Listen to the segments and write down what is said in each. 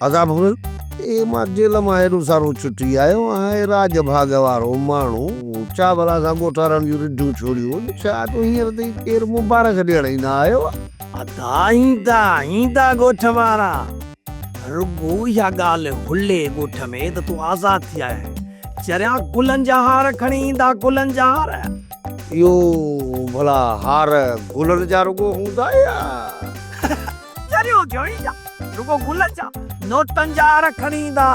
عذاب هن تي مان جيل مان هيڏو سارو ڇٽي آيو آهي راڄ ڀاڳ وارو ماڻهو ڇا ڀلا سان ڳوٺارڻ جون رڍون ڇوڙيون ڇا جو هينئر تائين ڪير مبارڪ ڏيڻ ئي نه آيو آهي. ادا ايندا ايندا ڳوٺ وارا رڳو اها ڳالهه هلي ڳوٺ ۾ ته تون آزاد ٿي آيو آهين چريا گلن جا هار کڻي ايندا گلن جا هار. اهو ڀلا هار گلن جا رڳو هوندا يا. دريو جوڻي جا، رڳو گلن جا، نوٽن جا اڙ کڻي ايندا.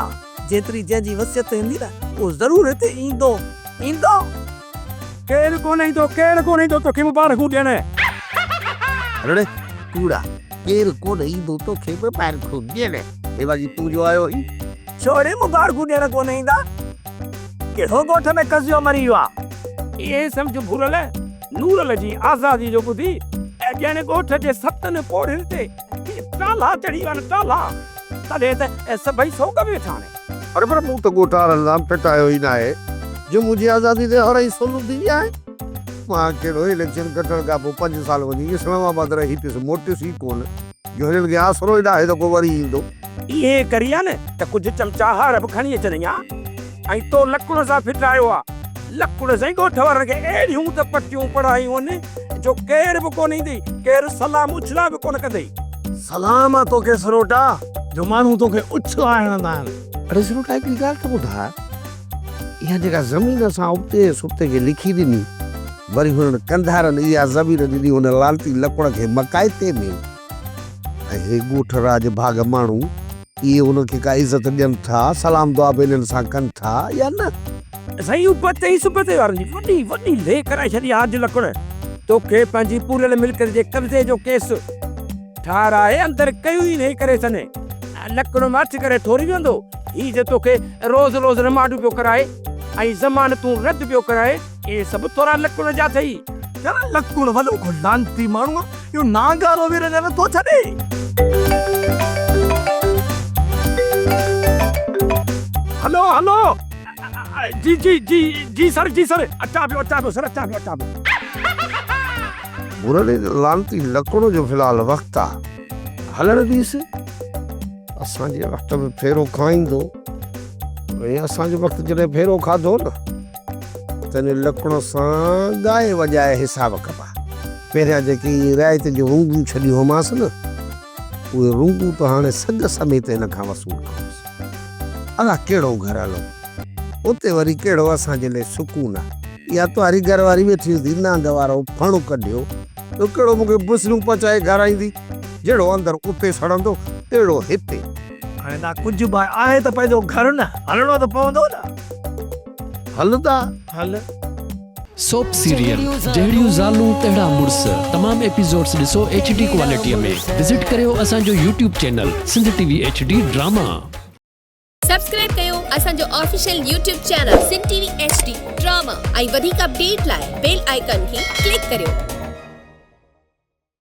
جيتري جنهن جي وسعت هوندي نه، اهو ضرور هتي ايندو، ايندو. ڪير ڪونه ايندو، ڪير ڪونه ايندو توکي مبارڪون ڏيڻ. رڙ ڪوڙا، ڪير ڪونه ايندو توکي مبارڪون ڏيڻ. هيوا جي تون جو آيو هين. ڇوڙي مبارڪون ڏيڻ ڪونه ايندا. ڪهڙو ڳوٺ ۾ قضيو مري ويو آ. اهي سمجهه ڀورل. نورل جي آزادي جو ٻڌي ڄڻ ڳوٺ جي ستن پوڙهين تي ٽالا چڙهي ويا آهن ٽالا. تڏهن ته سڀئي سوڳ ۾ ويٺا آهن. اڙي پر مون ته ڳوٺ وارن سان ڦٽايو ئي ناهي جو منهنجي آزادي تي اڙهائي سولون ٿي ويا آهن. مان ڪهڙو اليڪشن کٽڻ کان پوء پنج سال وڃي اسلام آباد رهي پيس، موٽيس ئي ڪونه. جو هنن کي آسرو ئي ناهي ته ڪو وري ايندو. ايئن ڪري ها نه ته ڪجهه چمچاهار به کڻي اچن ها ۽ تو لڪڻ سان ڦٽرايو ها. لڪڻ سائين ڳوٺ وارن کي اهڙيون ته پٽيون پڙهايون هن جو ڪير به ڪونه ايندئي، ڪير سلام اڇلا به ڪونه ڪندئي. سلام آ توکي سروٽا جو ماڻهو توکي اڇلا هڻندا آهن. اڙي سروٽا هڪڙي ڳالهه ته ٻڌاء. اها جيڪا زمين اسان ابتي ۽ سبتي کي لکي ڏني، وري هنن ڪنڌارن اها زمين ڏني ان لعنتي لڪوڙ کي مڪائتي ۾، ۽ هي ڳوٺ راڄ ڀاڳ ماڻهو، اهي هن کي ڪا عزت ڏين ٿا، سلام دعا به هنن سان ڪن ٿا يا نه؟ سائين ابتي ۽ سبتي وارن جي وڏي وڏي لي ڪرائي ڇڏي آ، اڄ لڪوڙ توکي پنهنجي پوريل ملڪيت جي قبضي جو ڪيس. ٺاراهي اندر ڪيو ئي نهي ڪري سني لڪڙ ماٺ ڪري ٺوري ويندو هي جو توکي روز روز رمانڊ پيو ڪرائي ۽ ضمانتون رد پيو ڪرائي اهي سڀ ٿورا لڪڙ جا اٿئي. يار لڪڙ وڏو ڪو لعنتي ماڻهو آ اهو نانگارو ويري نه نٿو ڇڏي. هلو هلو جي جي جي جي سر جي سر اچان پيو اچان پيو سر اچان پيو اچان پيو. ڀورڙي جو لعنتي لڪڻو جو في الحال وقت آ هلڻ ڏيس اسان جي وقت ۾ ڦيرو کائيندو ۽ اسان جو وقت جڏهن ڦيرو کاڌو نه تڏهن لڪڻو سان ڳائي وڄائي حساب ڪبا پهريان جيڪي رعايت جون هونگون ڇڏيون هئمانس نه اهي رونگون ته هاڻي سڳ سميت هن کان وصول ڪندس. الاء ڪهڙو گهر هلو. اتي وري ڪهڙو اسان جي لاء سڪون آ. اها تنهاري گهر واري ويٺي هوندي نانگ وارو ڦڻ ڪڍيو. جو ڪهڙو مون کي بسريون پچائي گهر آئيندي. جهڙو اندر اتي سڙندو تهڙو هتي. هاڻي دا ڪجهه به آهي ته پنهنجو گهر نه. هلڻو ته پوندو نه. هل دا. هل. سوپ سيريل جهڙيون زالون تهڙا مڙس تمام ايپيسوڊس ڏسو ايڇ ڊي ڪوالٽيء ۾ وزٽ ڪريو اسان جو YouTube channel Sindh T V H D drama. Subscribe ڪيو اسان جو official YouTube channel Sindh T V H D drama ۽ وڌيڪ اپڊيٽ لاء بيل آئيڪان کي ڪلڪ ڪريو.